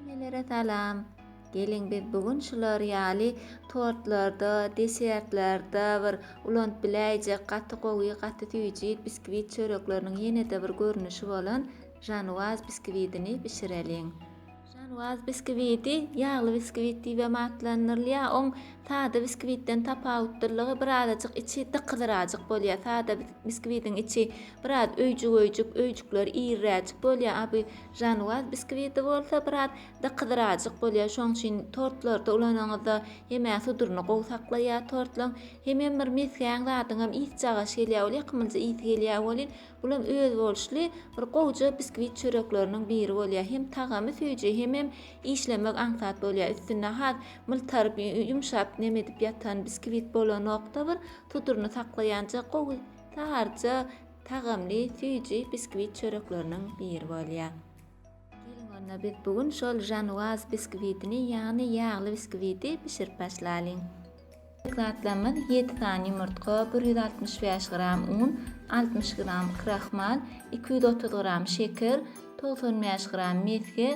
Hemmelere salam! Geliň biz bu gün şular ýaly tortlarda, desertlerde bir ulanyp biläýjek gaty gowy, gaty süýji biskwit çörekleriniň ýene-de bir görnüşi bolan Žanwaz biskwidini bişireliň. Žanwaz biskwidi ýagly biskwit diýibem atlandyrylýar. Oň sada biskwitden tapawutdylygy birazajyk içi dykyzyrajyk bolýar. Sada biskwidiň içi biraz öýjük-öýjük, öýjükleri iriräjik bolýar, a bu Žanwaz biskwiti bolsa biraz dykyzyrajyk bolýar, şoň üçin tortlarda ulanyňyzda hemä suduryny gowy saklaýar tortlaň. Hemem bir mesgän zadyňam ysy çagaş gelýär welin, ýakymlyja ysy gelýär welin, bulam özboluşly bir gowja biskwit çörekleriniň biri bolýar. Hem tagamy süýji, hemem işlemek aňsat bolýar. Üstünde has myltaryp, ýumşap neme edip ýatan biskwit bolanokda bir suduryny saklaýanja gowy, saryja, tagamly süýji biskwit çörekleriniň biri bolýar. Geliň onda biz bu gün şol žanuaz biskwitini ýagny ýagly biskwiti bişirip başlalyň. Gerek zatlarymyz ýedi sany ýumurtga, bir ýüz altmyş bäş gram un, altmyş gram krahmal, iki ýüz otuz gram şeker, togsan bäş gram mesge,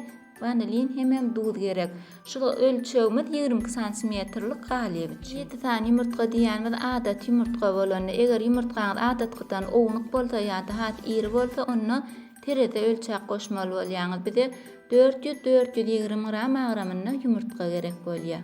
Wanilin hemem duz gerek. Şul ölçegimiz ýigrimi iki santimetrlik galyp üçin. Ýedi sany ýumurtga diýýänimiz adaty ýumurtga bolanda, eger ýumurtgaňyz adatkydan ownuk bolsa ýa-da has iri bolsa, onda terezä ölçäp goşmaly bolýaňyz. Bize dört ýüz, dört ýüz ýigrimi gram agramynda ýumurtga gerek bolýar.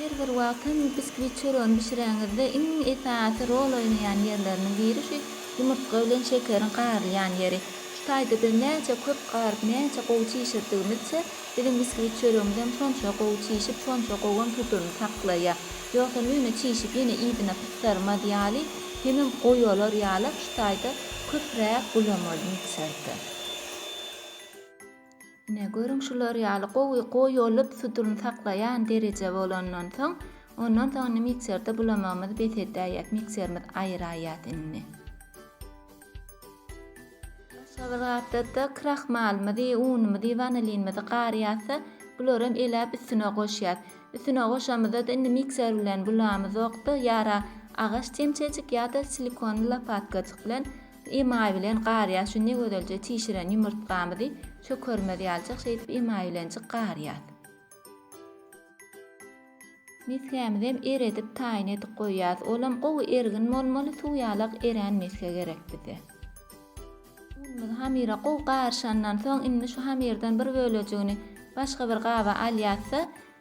Her bir wagt hem biskvit çöregini bişireňizde iň esasy rol oýnaýan ýerleriniň biri şu ýumurtga bilen şekeriň garylýan ýeri. Kitayda biz näçe köp garyp näçe gowy çişirdigimizçe biziň biskvit çöregimiz hem şonça gowy çişip şonça gowy hem tuzuny saklaýa. Ýogsam ýöne çişip ýene yzyna pysdyrmaz ýaly hemem goýy olar ýaly kitayda köpräk gulamalyn içerde. Ine, görüň, şular ýaly gowy goýulyp, suduryny saklaýan dereje bolandan soň, ondan soň indi mikserde bulamagymyzy bes edäýýäs, mikserimizi aýyraýýas indi. Başga bir gapda-da krahmalymyzy, unumyzy, wanilinimizi garýas-da, bularam eläp üstüne goşýas. Üstüne goşamyzda-da indi mikser bilen bulamyzok-da, ýara agaç çemçejik ýa-da silikonly lopatkajyk bilen Emaý bilen garýas şu ne gözelje çişiren ýumurtgamyzy çökermez ýaljak şeýdip emaý bilenjik garýas. Mesgämizem eredip taýyn edip goýýas olam gowy ergin bolmaly suw ýalak erän mesge gerek bize. Unumyz hamyra gowy garyşandan soň indi şu hamyrdan bir bölejigini başga bir gaba alýasda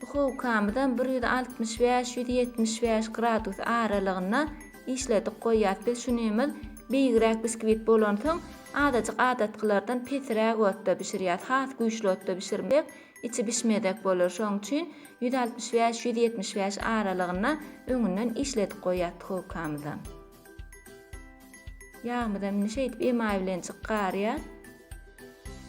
Duhowkamyzam bir ýüz altmyş bäş, ýüz ýetmiş bäş gradus aralygynda işledik goýýas. Biz şunymyz beýigräk biskwit bolansoň, azajyk adatkylardan pesiräk otda bişirýäs. Has güýçli otda bişirmesek, içi bişmezek bolar. Şoň üçin ýüz altmyş bäş, ýüz ýetmiş bäş aralygynda öňünden işledik goýýas duhowkamyzam. Ýagymyzam indi şeýdip emaý bilen çykarýar.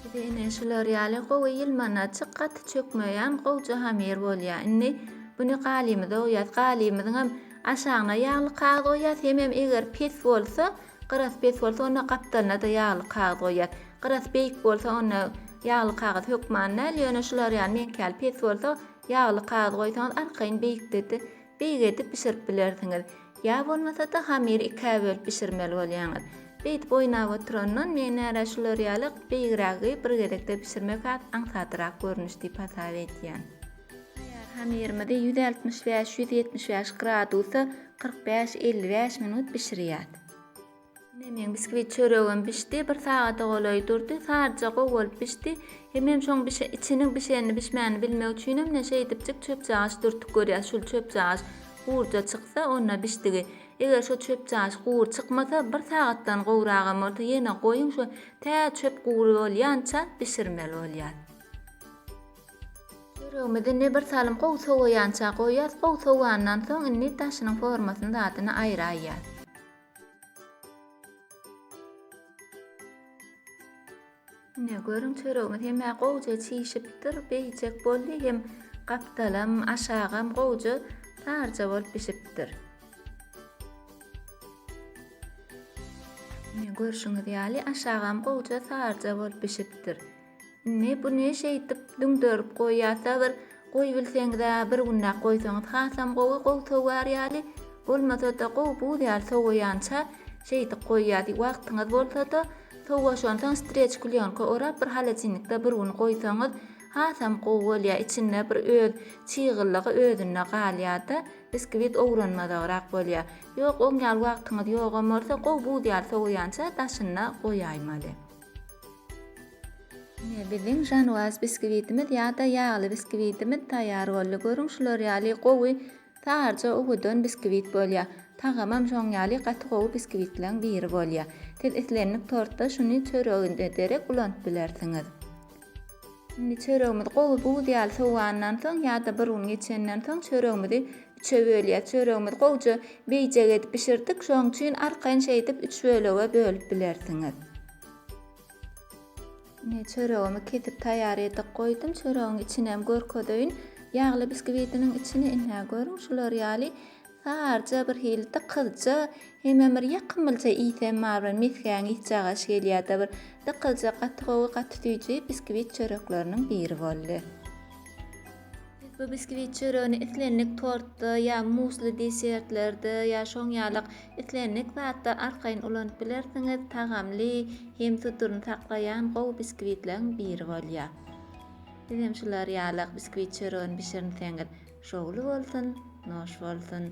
Bize ine şular ýaly gowy ýylmanaçyk gaty çökmeýän gowja hamir bolýar. Indi buny galymyza oýas. Galymyzyňam aşagyna ýagly kagyz oýas, hemem eger pes bolsa, gyrasy pes bolsa onda gapdalyna-da ýagly kagyz oýas. Gyrasy beýik bolsa onda ýagly kagyz hökman däl, ýöne şular ýaly meňki ýaly pes bolsa ýagly kagyz goýsaňyz arkaýyn beýikde-de beýik edip bişirip bilersiňiz. Ýa bolmasa-da hamyry ikä bölüp bişirmeli bolýaňyz. Beýdip oýnap oturandan men nära şular ýaly beýigrägi bir gezekde bişirmek has aňsadrak görnüş diýip hasap edýän. Taýýar hamyrymyzy ýüz altmyş bäş-ýüz ýetmiş bäş gradusa kyrk bäş-elli bäş minut bişirýäs. Ine meň biskvit çöregim bişdi. Bir sagata golaý durdy. Saryja gowy bolup bişdi. Hemem şoň bişe, içiniň bişenini, bişmänini bilmek üçinem ne şeýdipjik çöpjagaç dürtüp görýäs. Şul çöpjagaç gurja çyksa, onda bişdigi. Eger şo çöpjagaç gury çykmasa, bir sagatdan gowragam bolsa ýene goýuň, şo tä çöp gury bolýança bişirmeli bolýar. Çöregimizi indi bir salym gowy sowaýança goýýas. Gowy sowandan soň indi daşynyň formasyny, zadyny aýraýýas. Ine görüň çöregimiz hemä gowja çişipdir, beýjek boldy hem gapdalam, aşagam gowja tarja bolup bişipdir. Ine görşüňiz ýaly aşagam gowja tarja bolup bişipdir. Indi bu ne şeýdip düňderip goýýar sabyr goýbilseňizä bir günläp goýsaňyz hasam gowy gowy sowyar ýaly bolmasada gowy buz ýaly sowaýança şeýdip goýýar wagtyňyz bolsada sowaşansoň streç klýonka orap bir halacinnikde bir gün goýsaňyz hasam gowy bolýar içinde bir öz çygyllygy özünde galýarda biskwit owranmazagrak bolýar ýok oň ýaly wagtyňyz ýogam bolsa gowy buz ýaly sowaýança daşynda goýaýmaly. Ine, biziň žanwaz biskvitimiz ýa-da ýagly biskvitimiz taýýar boldy. Görüň, şular ýaly gowy, saryja owadan biskvit bolýar. Tagamam şoň ýaly gaty gowy biskvitleň biri bolýar. Siz islendik tortda şuny çöreginde derek ulanyp bilersiňiz. Indi çöregimiz gowy buz ýaly sowandan soň ýa-da bir gün geçenden soň çöregimizi Üçe bölýär. Çöregimizi gowja beýjek edip bişirdik. Şoň üçin arkaýyn şeýdip üç bölege bölüp bilersiňiz. Ine çöregimi kesip taýýar edip goýdum. Çöregiň içini hem görkezeýin. Ýagly biskibidiniň içini ine görüň şular ýaly sarja bir hildi kyzja hemem bir ýakymlyja ysy hem bar bir mesgäň ysy agaş gelýärdi bir dykylja gaty gowy gaty süýji biskibit çörekleriniň biri boldy. Bu biskwit çöregini islendik tortda ýa musli desertlerde ýa şoň ýalyk islendik zatda arkaýyn ulanyp bilersiňiz, tagamly hem tuturyny saklaýan gowy biskwitleriň biri bolýar. Sizem şular ýalyk biskwit çöregini bişirinseňiz şowly bolsun, noş bolsun!